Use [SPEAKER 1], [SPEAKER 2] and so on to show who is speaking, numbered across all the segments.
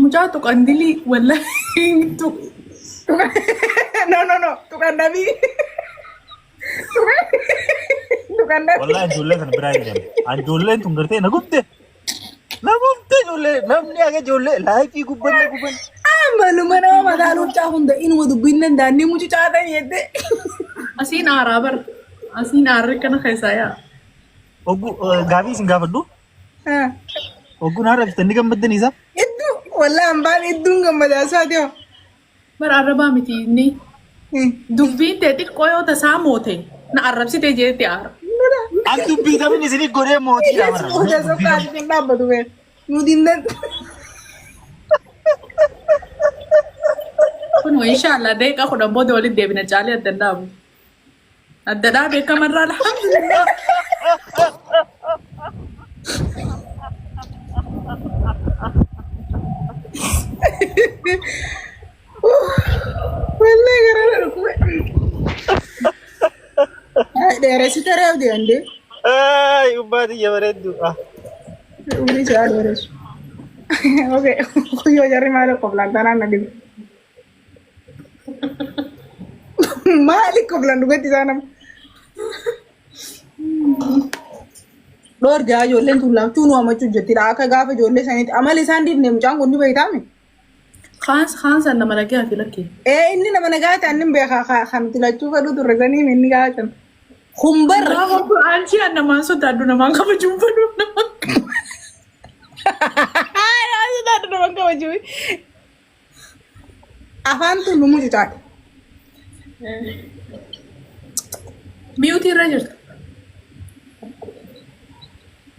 [SPEAKER 1] Mucaa tuqan dilii wallaahi tuq. No
[SPEAKER 2] no no tuqan dhabii. Tuqan dhabii. Wallahi ijoollee kana biraa hin
[SPEAKER 3] deemne. An ijoolleen tun gartee na gubde. Na gubde ijoollee namni haga ijoollee laayifii gubbanne gubbanne. Maluma
[SPEAKER 2] nama mataa luuccaa hunda inuma dubbiin danda'anii mucucaa ta'e jette. Asiin
[SPEAKER 1] aaraa bar. Asiin aarri kana keessaa yaa. Oggu
[SPEAKER 3] gaafii isin gaafadhu. Ogguun haadha bitan ni gammaddan isa. Idduu walaa
[SPEAKER 2] hambaan idduun gammadaa isaati hoo. Bara arrabaa
[SPEAKER 1] miti inni. Dubbiin tee xiqqoo yoo tasaa moote na arrabsite jeetti aara. As dubbii
[SPEAKER 3] tamin isin godhee mootii dha bara. Oda sokaa asiin
[SPEAKER 2] dhaabbatu bee. Nu dinnan.
[SPEAKER 1] Kun inshallah deeqa kudhan booda walitti deebina caalee adda hin dhaabu. Adda dhaa beekama irraa alhamdulillah.
[SPEAKER 2] Wallee garaa na dhukkube. Ay, Dheeressitee reebdi andee. Ay,
[SPEAKER 3] ubbaa tiyya bareeddu. Ah.
[SPEAKER 2] Umrii isaa dheeressu. Okay, kuyyoo jarri maal qoflaan tanaan na dhibe. Maali koflan dhugatti isaa nama. Dhoorgaa ijoolleen tun laachuu nu hamachuu jettidha. Akka gaafa ijoollee sanitti amala isaan dhiifne mucaan kun ni beektaami. Kaans
[SPEAKER 1] kaans anna malagee ati lakkee. Ee inni nama nagaa
[SPEAKER 2] ta'an ni beekaa ka- kan nuti lachuu fedhuu turre sanii inni gaafa ta'an. Kun barra. Gaafa kun aantii
[SPEAKER 1] anna maan sodaaddu namaan kabajuun fedhu namaan.
[SPEAKER 2] Haa yaa sodaadhu nama kabajuu. Afaan tun nu mucucaadha.
[SPEAKER 1] Miyuutii irra jirta.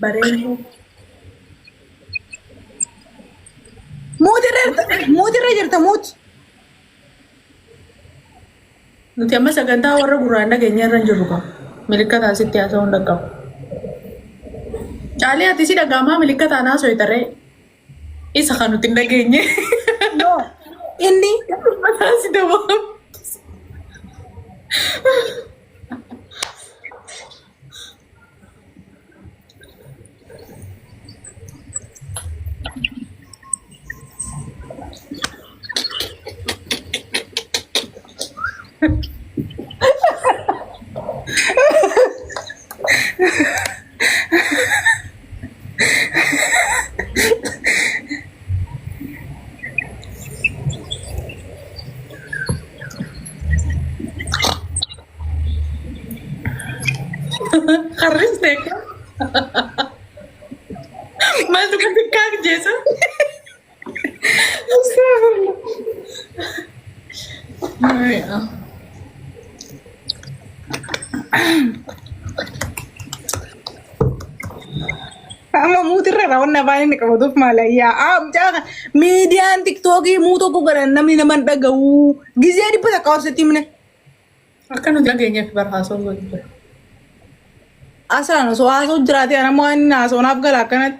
[SPEAKER 1] Bareedu.
[SPEAKER 2] Muuti irra jirta. Muuti irra jirta muuti.
[SPEAKER 1] Nuti amma sagantaa warra gurraan dhageenya irra hin jirru qabu. Milikkataa sitti haasa'uu hin dhaqqabu. Caalee ati si dhaga'amaa milikkataa naasoo itaree. Isa kan nuti hin dhageenye. No.
[SPEAKER 2] Inni Mataa si
[SPEAKER 1] dabaa. Harris beekaa. Maaltu kan beekaa jeesa?
[SPEAKER 2] Amma muutirra raawwanna afaan inni qabatuuf maala yaa amcaa miidiyaan tiktookii muu tokko godhan namni nama hin dhagahu gizee dhibba takka obsetti himne Akka
[SPEAKER 1] nu dhageenyeef barhaasoo godhu jira. asaan
[SPEAKER 2] osoo haasoo jiraatee anammoo waan inni haasoonaaf gala akkanatti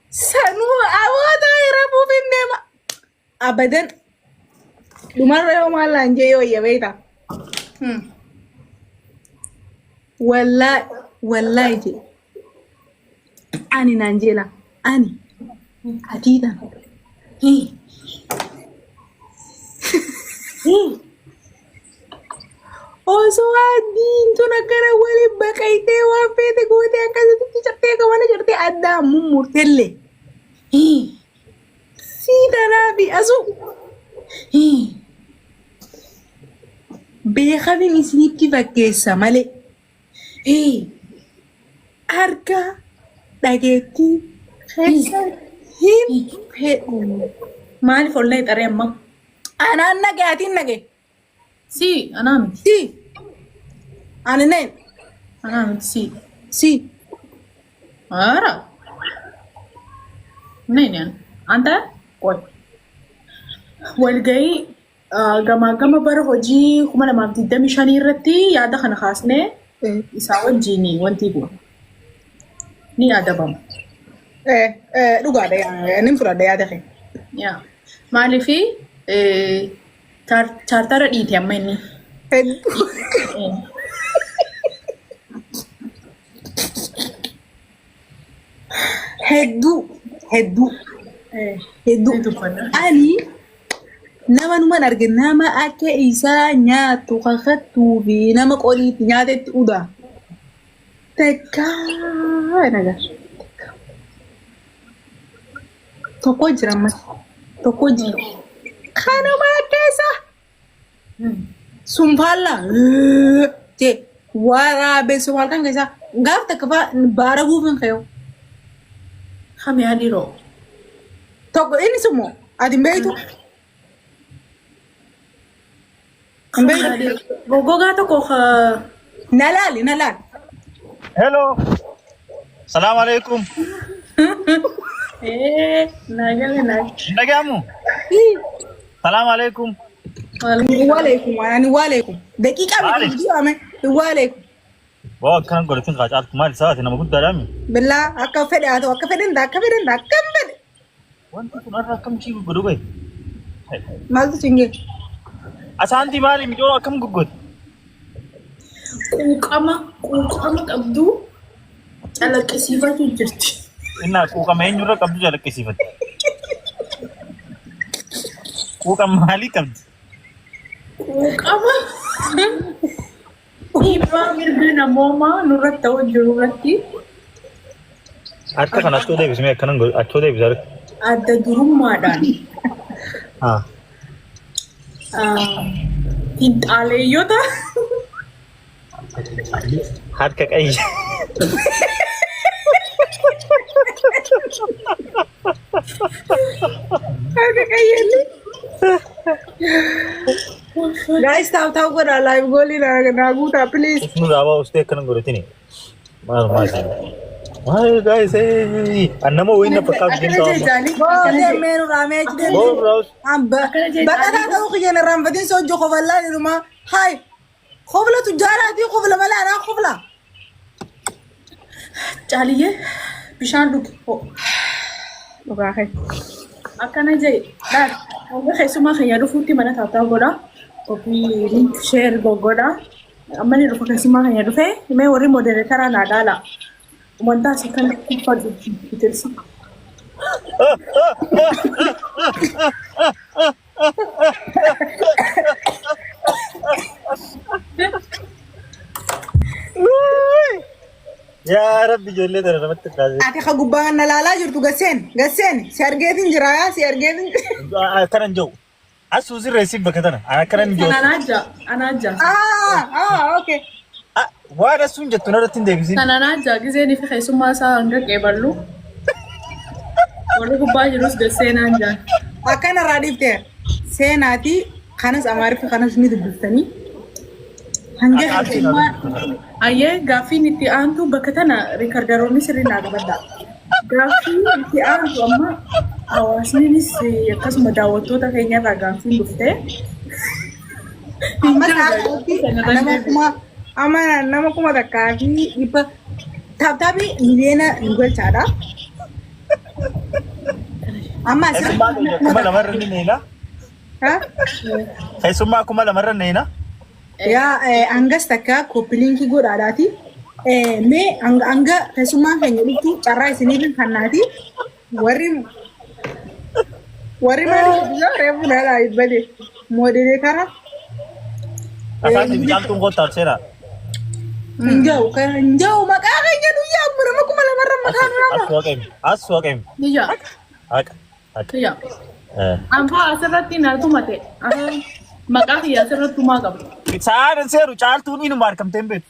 [SPEAKER 2] Sanuu awootaa hiramuuf hin deema. Abadan dhumarra yoo maal naan jee yoo iyya beektaa. Hmm. Wallaahi wallaahi jee ani naan jeela ani atii tan. Hii. Hii. Osoo addiin tun akkana waliin baqayxee waan feete gootee akkasitti cartee akka mana cartee addaa mummurtelle. Sii tanaa fi asuu beekamin isinitti fakkeessa malee. Hii. Argaa dhageettii keessa hin fedhu. Maaliif
[SPEAKER 1] ollaa xaree amma? Anaan nage
[SPEAKER 2] atiin nage. Si
[SPEAKER 1] anaa miti. Si.
[SPEAKER 2] Ani neen. Anaa miti
[SPEAKER 1] si. Si. Ara. Neenyaan. Anta qoy. Walgahii Gamaaggama bara hojii 2025 irratti yaada kana kaasnee isaa wajjin wanti kun ni adabama.
[SPEAKER 2] Dhugaadha nin fudhadha yaada kee. Yaa.
[SPEAKER 1] Maaliif chaartara dhiite amma inni. Hedduu.
[SPEAKER 2] Hedduu hedduu hedduu ani nama numan arge nama akka isaa nyaattu kakattuu fi nama qoliitti nyaatetti udaa takkaa naga tokko jira ammas tokko jira kanuma akka isaa. Sun faallaa jee waraabessu halkan keessaa gaaf takka faa baara guufiin kayoo.
[SPEAKER 1] Kami adiroo.
[SPEAKER 2] Tokko inni summoo ati hin beektu.
[SPEAKER 1] Hin beektu. Goggogaa tokko ka Na
[SPEAKER 2] laali na laali.
[SPEAKER 3] Hello. Salaam alaikum. ee naa galee naa. Hin dhaga'amu? Ii. Salaam alaikum. Waalaikum ani
[SPEAKER 2] waalaikum. Daqiiqaa miti Maali? viidiyoo ame waalaikum. Waa
[SPEAKER 3] akkaan godhatin kaa caaltu maali saati nama guddaadhaa mi? Billaa akka
[SPEAKER 2] fedhe haa ta'u akka fedhe hin ta'u akka fedhe hin ta'u akka hin fedhe. Wanti kun
[SPEAKER 3] har'a akkam ishii goggodu bahe?
[SPEAKER 2] Maaltu siin jedhe? Asaantii
[SPEAKER 3] maali micoon akkam goggodu?
[SPEAKER 1] Quuqama quuqama qabdu Calaqqisiifatu jirti. Innaa quuqama
[SPEAKER 3] eenyurra qabdu calaqqisiifatti. Quuqama maalii qabdi? Quuqama
[SPEAKER 1] dhiibbaa mirga namoomaa nurratti ta'u jiru irratti Harka
[SPEAKER 3] kana achoo deebismee akkanan godhu achoo deebisa harka. adda durummaadhaan
[SPEAKER 1] Haa. ah, finxaaleeyyota
[SPEAKER 3] Harka qayya.
[SPEAKER 2] Harka qayyalli. Guys, taa'u taa'u godhaa live goolii naa guutaa please. Isnu raabaa ustee akkana
[SPEAKER 3] godhatini. Maal maal siin. Maal gaayis annama wayinna fakkaatu Akkana deemtaa amma. jechaanii. Boodee
[SPEAKER 2] meenu raamee achi deemee. Boon raawus.
[SPEAKER 3] Baqataa
[SPEAKER 2] ta'uu kiyyan irraanfatiin soojjoo kofallaa jedhuma. Haay. Kofla tujjaaraa fi kofla malaadhaa kofla.
[SPEAKER 1] Caaliyyee bishaan dhugi.
[SPEAKER 2] Dhugaa kee. Akkana
[SPEAKER 1] jee dhaal. Hogga keessumaa keenya dhufuutti mana taattaa godha. Ofii link share goggodha. Amma ni dhufa keessumaa keenya dhufee mee warri modereetaraa naa dhaala. Wantaa si kan kuffadhu bitirsa.
[SPEAKER 3] Yaa rabbi ijoollee tana namatti taasise. Ati ka gubbaa kana laalaa
[SPEAKER 2] jirtu gasseen gasseen si argeetiin jira yaa si argeetiin jira. Akkanan jiru.
[SPEAKER 3] Asuu sirreessiif bakka tana. Akkanan jiru. Anaa
[SPEAKER 1] jaa. Anaa jaa. Ah
[SPEAKER 2] ah okay.
[SPEAKER 3] Waa dhassuun jettu narratti hin deebisin. Kanaan ajjaa gizeen fi
[SPEAKER 1] keessummaa isaa hanga qeeballu warri gubbaa jirus gad seenaan jaan. Akkana irraa dhiifte
[SPEAKER 2] seenaatii kanas amaariffa kanas ni dubbiftanii. Hanga keessummaa Ayyee
[SPEAKER 1] gaaffiin itti aantu bakka tana riikardaroonni sirrii naa qabadha. Gaaffiin itti aantu amma hawaasnis akkasuma daawwattoota keenya irraa gaaffiin dhuftee Amma ta'a ta'etti
[SPEAKER 2] nama kuma amma nama kuma takkaa fi dhibba taaptaapi miliyoona nu galchaadha. Amma asirratti Keessummaa nama keenya kuma kuma
[SPEAKER 3] lamarra ni neena. takkaa. Keessummaa kuma lamarra neena. Yaa
[SPEAKER 2] eh, hangas takka koppiliinkii godhaadhaati. Eh, Mee hanga hanga keessummaan keenya dhuftu carraa isiniif hin kennaati. Warri warri maaliif biyyaa reefu nalaa ibbade moodelee karaa
[SPEAKER 3] Asaasi bicaaltuun goottaa seera. hin jahu kan
[SPEAKER 2] hin jahu maqaa keenya guyyaa amma nama kuma lamarra maqaa As nama. waqeem. As waqeem.
[SPEAKER 3] Biyya
[SPEAKER 1] Haqa. Haqa.
[SPEAKER 3] biyya
[SPEAKER 1] Eh. ammaa asirratti na tumate maqaa kiyya asirratti tumaa
[SPEAKER 3] qabu. Sa'aan
[SPEAKER 1] hin
[SPEAKER 3] seeru caaltuun inuma argamtee
[SPEAKER 1] hin beektu.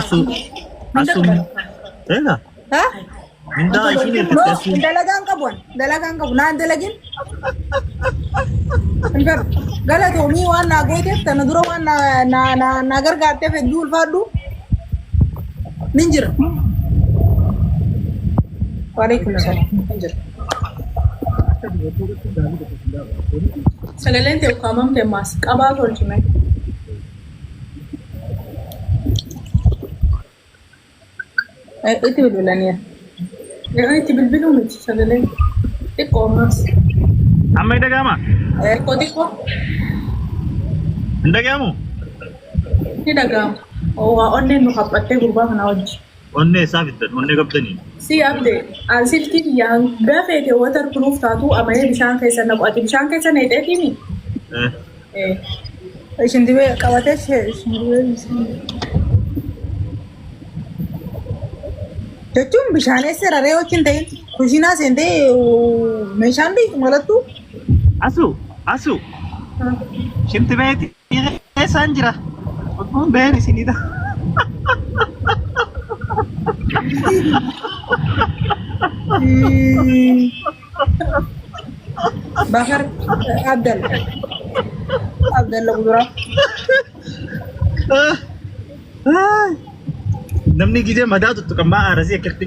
[SPEAKER 3] Asuu. Asuu. Eega. Ha? Mindaa ishiin ergitti asuu. Dalagaan qabu an.
[SPEAKER 2] Dalagaan qabu. Naan dalagin. Hin fedhu. Galatoomii waan naa gooteef tana dura waan naa naa naa naa gargaarteef hedduu ulfaadhu. Nin jira. Waalaikum salaam. Nin jira.
[SPEAKER 1] Sagaleen tee ukkaamamte ammaas qabaa tolchime.
[SPEAKER 2] Itti bilbilaniiru. Yeroo
[SPEAKER 1] itti bilbiluu miti sagalee xiqqoo ammas. Amma hin
[SPEAKER 3] dhaga'amaa? Xiqqoo xiqqoo Hin dhaga'amu?
[SPEAKER 1] ni dhaga'ama. Waa onneen nu haphattee gurbaa kanaa wajji. Onnee isaa fiddan
[SPEAKER 3] onnee qabdanii. Si abde
[SPEAKER 1] an silkii kiyya hanga feete water proof taatu amayee bishaan keessa naqu ati bishaan keessa neexeetiimi. Eh,
[SPEAKER 2] Eh, Ishin dibee qabatee ishee ishin dibee bishaan. Jechuun bishaan eessa raree wajjin ta'in kushiinaa seentee meeshaan dhiitu malattu Asu
[SPEAKER 3] asu shinti beeti. Dhiira keessaan jira. Kun been isinidha.
[SPEAKER 2] Bakar Abdalla. Abdalla Kuduraa.
[SPEAKER 3] Namni gidee madaa tuttuqan maa aarasii akkatti.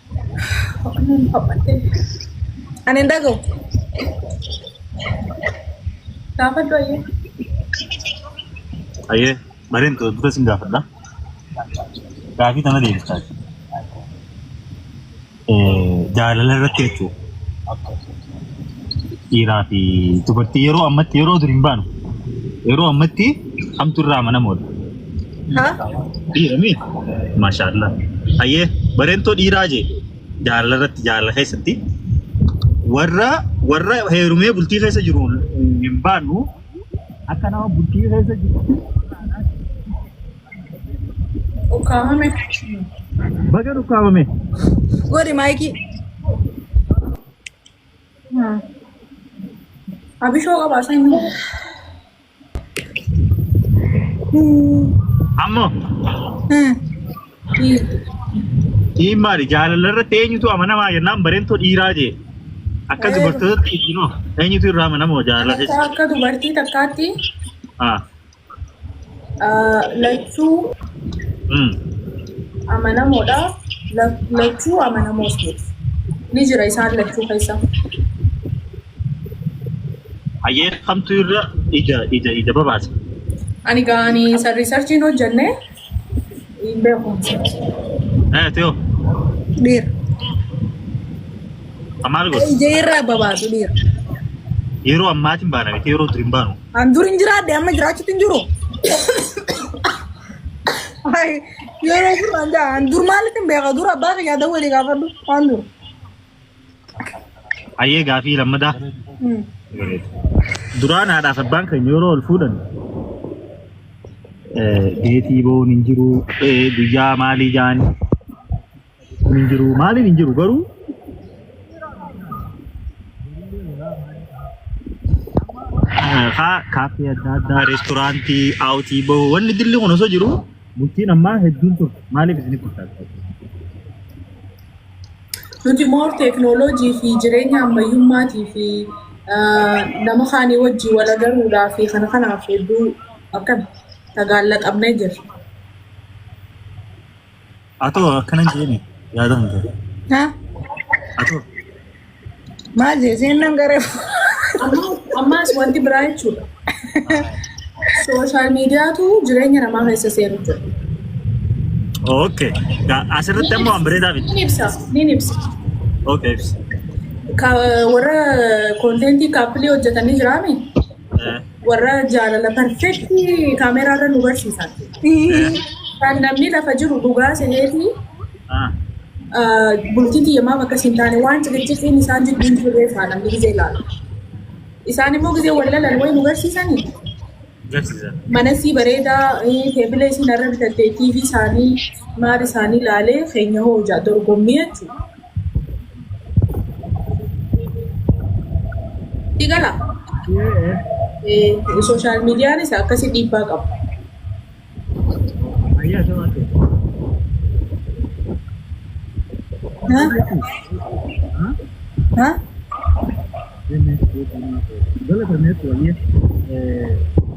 [SPEAKER 2] Ani hin dhagahu. Gaafadhu
[SPEAKER 1] ayyee.
[SPEAKER 3] Ayyee mareen ta'e duta sin gaafadha. Gaafii tana deebistaa jaalala irratti jechuudha. dhiiraa fi dubartii yeroo ammatti yeroo dur hin baanu yeroo ammatti hamtu irraa amanamoodha. Ha? Dhiira mii? Maashaallah. Hayyee bareentoo dhiiraa jee jaalala irratti jaalala keessatti warra warra heerumee bultii keessa jiru hin baanu akka nama bultii keessa jiru
[SPEAKER 1] Ukkaamame.
[SPEAKER 3] baga dhukkaamame. Godhi
[SPEAKER 2] maayikii.
[SPEAKER 1] Abishoo qabaa isaa hin beeku.
[SPEAKER 3] Ammoo dhiin maali jaalala irratti eenyutu amanamaa jennaan bareentoo dhiiraa jee. Akka Eh. dubartootatti dhiinoo eenyutu irraa amanamoo jaalala keessa. Akka dubartii takkaatti
[SPEAKER 1] Ah. lachuu amanamoodha lachuu amanamoos miti ni jira isaan lachuu keessa
[SPEAKER 3] hayyee kamtu irra ija ija ija babaasa ani
[SPEAKER 1] gaanii sarrii sarchiin hojjannee Hin beeku.
[SPEAKER 3] Eh, Teo,
[SPEAKER 2] Dhiira.
[SPEAKER 3] maal goota? Ija irraa babaasu
[SPEAKER 2] dhiira. Yeroo
[SPEAKER 3] ammaatiin baana miti yeroo durii hin baanu. An dur hin jiraadhe
[SPEAKER 2] amma jiraachuutti hin jiru. Ay, Yeroo dur an jaa- an dur maalitti hin beeka dur abbaa kiyyaa dawwalii gaafadhu waan dur.
[SPEAKER 3] Ayyee gaafii lammadaa. Duraan haadhaaf abbaan keenya yeroo ol fuudhan deetii boon hin jiru guyyaa maalii jaan kun hin jiru maaliin hin jiru garuu haa kaaffee adda addaa reestooraantii aawutii bahuu wanni dilli kun osoo jiru bultiin ammaa hedduun turte maaliif isinitti fakkaata?
[SPEAKER 1] Nuti moor teeknooloojii fi jireenya ammayyummaatii fi nama kaanii wajjin wal agaruudhaa fi kana kanaaf hedduu akkana tagaallaxamnee jirra.
[SPEAKER 3] Atoo akkana hin jeeni yaada hin ta'e. Ha?
[SPEAKER 2] Atoo. Maal jee seennan garee Ammaas
[SPEAKER 1] ammaas wanti biraa jechuudha. Sooshaal miidiyaatu jireenya namaa keessa seenu jira.
[SPEAKER 3] Okay. Ga- Asirratti ammoo waan bareedaa miti. Ni ibsa, ni ibsa.
[SPEAKER 1] Okay. ibsi.
[SPEAKER 3] Ka-
[SPEAKER 1] Warra konteentii kaappilii hojjetanii jiraame Eh, warra jaalala perfektii kaameeraarra nu barsiisan. Kan namni lafa jiru dhugaa seneetii bultii tiyya maaf akkas hin taane waan ciqiciqiin isaan jidduu hin jirree isaa namni gizee ilaalu. Isaan immoo gizee wal lalan wayi nu garsiisanii Garsiisan. mana sii bareedaa eh, teebila isin irra bitattee TV isaanii maal isaanii ilaalee keenya hoo ija dorgommii jechuudha. Sii gala? Sooshaal miidiyaanis akkasii dhiibbaa qaba.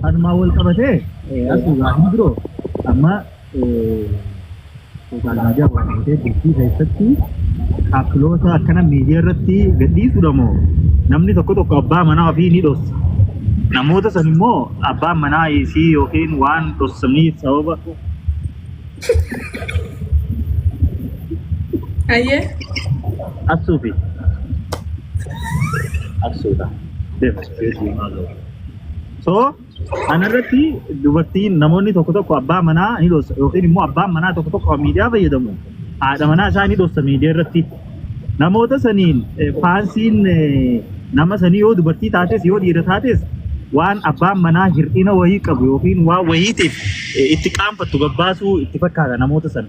[SPEAKER 3] Anumaa wal qabatee asii waa hin biroo amma Sooshaal miidiyaa waan ta'eef bultii keessatti appiloota akkana miidiyaa irratti gadhiisuudha moo namni tokko tokko abbaa manaa ofii ni dhossa. Namoota san immoo abbaan manaa isii yookiin waan dhossaniif sababa
[SPEAKER 1] Ayyee.
[SPEAKER 3] assuu fi assuudha. Deema. So Kana irratti dubartiin namoonni tokko tokko abbaa manaa ni dhoossa yookiin immoo abbaan manaa tokko tokko kan miidiyaa fayyadamu haadha manaa isaa ni dhoossa miidiyaa irratti. Namoota saniin eh, faansiin eh, nama sanii yoo dubartii taates yoo dhiira taates waan abbaan manaa hir'ina wayii qabu yookiin waan wayiitiif eh, itti qaanfattu gabbaasuu itti fakkaata namoota sana.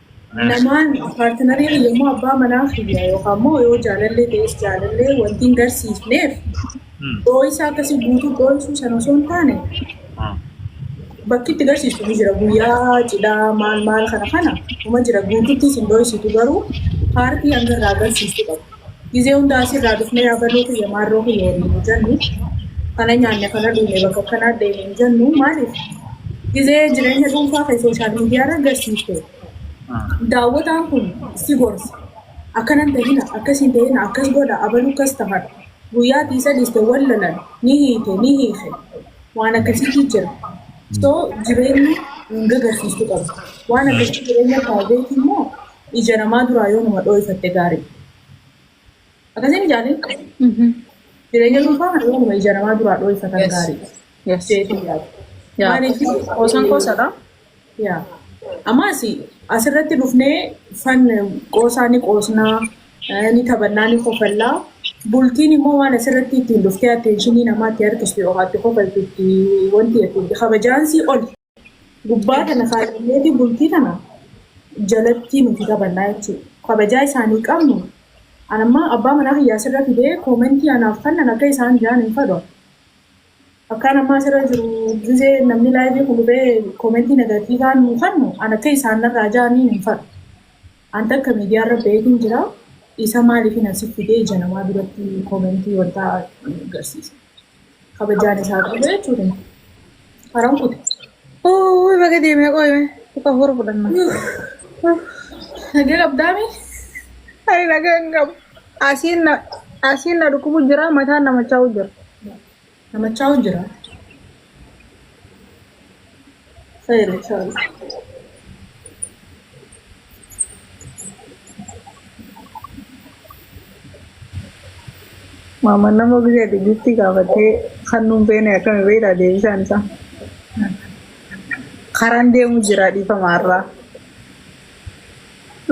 [SPEAKER 1] Namaan paartinarii kiyya immoo abbaa manaa kiyya yookaan immoo yoo jaalallee ta'es jaalallee wanti hin garsiifneef dhooysaa akkasii guutuu dhooysuu sana osoo hin taane bakki itti garsiistu ni jira guyyaa cidhaa maal maal kana kana uma jira guututti isin dhooysitu garuu paartii hanga irraa garsiistu qabu. Gizee hundaa asirraa dhufnee abaluu kiyya maarroo kiyya waliin hin jennu. Kana nyaanne kana dhuune bakka kanaa deemne hin jennu. Maaliif? Gizee jireenya dhuunfaa kee sooshaal miidiyaarra agarsiifte. Daawwataan kun si gorsa. Akkanan ta'ina, akkasiin ta'ina, akkas godha, abaluu akkas tahadha. Guyyaa ati isa dhiiste wal lolan, ni hiite, ni hiike. Waan akkasiitu jira. So jireenyi hin gagarsiistu qabda. Waan akkasii jireenya private immoo ija namaa duraa yoo nama dhooyfatte gaariidha. Akkasiin ijaanii jireenya dhuunfaa kana yoo nama ija namaa duraa dhooyfatan Yes. gaariidha. Yes. Jeetii yaadu. Yaa. Maaliif? Qoosan qoosadha.
[SPEAKER 2] Yaa.
[SPEAKER 1] Ammas asirratti dhufnee fan qoosaa ni qoosnaa, eh, ni taphannaa, ni kofallaa. Bultiin immoo waan asirratti ittiin dhuftee atteenshinii namaatti harkistu yookaan itti kofaltu itti wanti itti kabajaansii oli. gubbaa tana kaadhineeti bultii tana jalattii nuti taphannaa jechuudha. Kabajaa isaanii qabnu an amma abbaa manaa kiyyaa sirra fidee koomentii anaaf fannan akka isaan jaan hin fadhu. Akkaan ammaa sirra jiru gizee namni laayivii kun dhufee koomentii negatiivaa nu fannu an akka isaan narraa jaaniin hin fadhu. An takka miidiyaa irra beetiin jira. Isa maaliif hin asif fidee ija namaa duratti koomentii wantaa garsiisa. kabajaan isaa qabu jechuudha. Haram kutu. Uuy baga
[SPEAKER 2] deemee qoyme kuka hora fudhanna. Nagee
[SPEAKER 1] qabdaami?
[SPEAKER 2] Ani nagaa hin qabu. Asiin na asiin na dhukkubu jira mataan na machaa'u jira.
[SPEAKER 1] Namachaa jira. Seera
[SPEAKER 2] isaas. Maaman nama biyya Gibxii gaafattee kan nuun beene akkami beektaa deebisaan isaa. Karaan deemu jira dhiifama har'aa.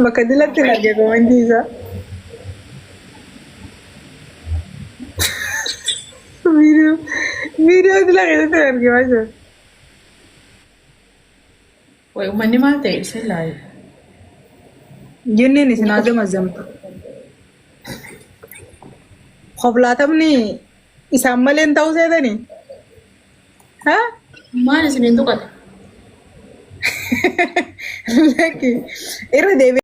[SPEAKER 2] Bakka dilatti hin arge komentii isaa. Viidiyoo viidiyoo dila keessatti hin arge maashaa.
[SPEAKER 1] Way ummanni maal ta'e isin laayu. Jinniin
[SPEAKER 2] isin haa zamazamtu. Koblaatamni isaan malee hin ta'uu seetanii? Ha? Maal isin hin
[SPEAKER 1] tuqate? Lakki
[SPEAKER 2] irra deebi'ee.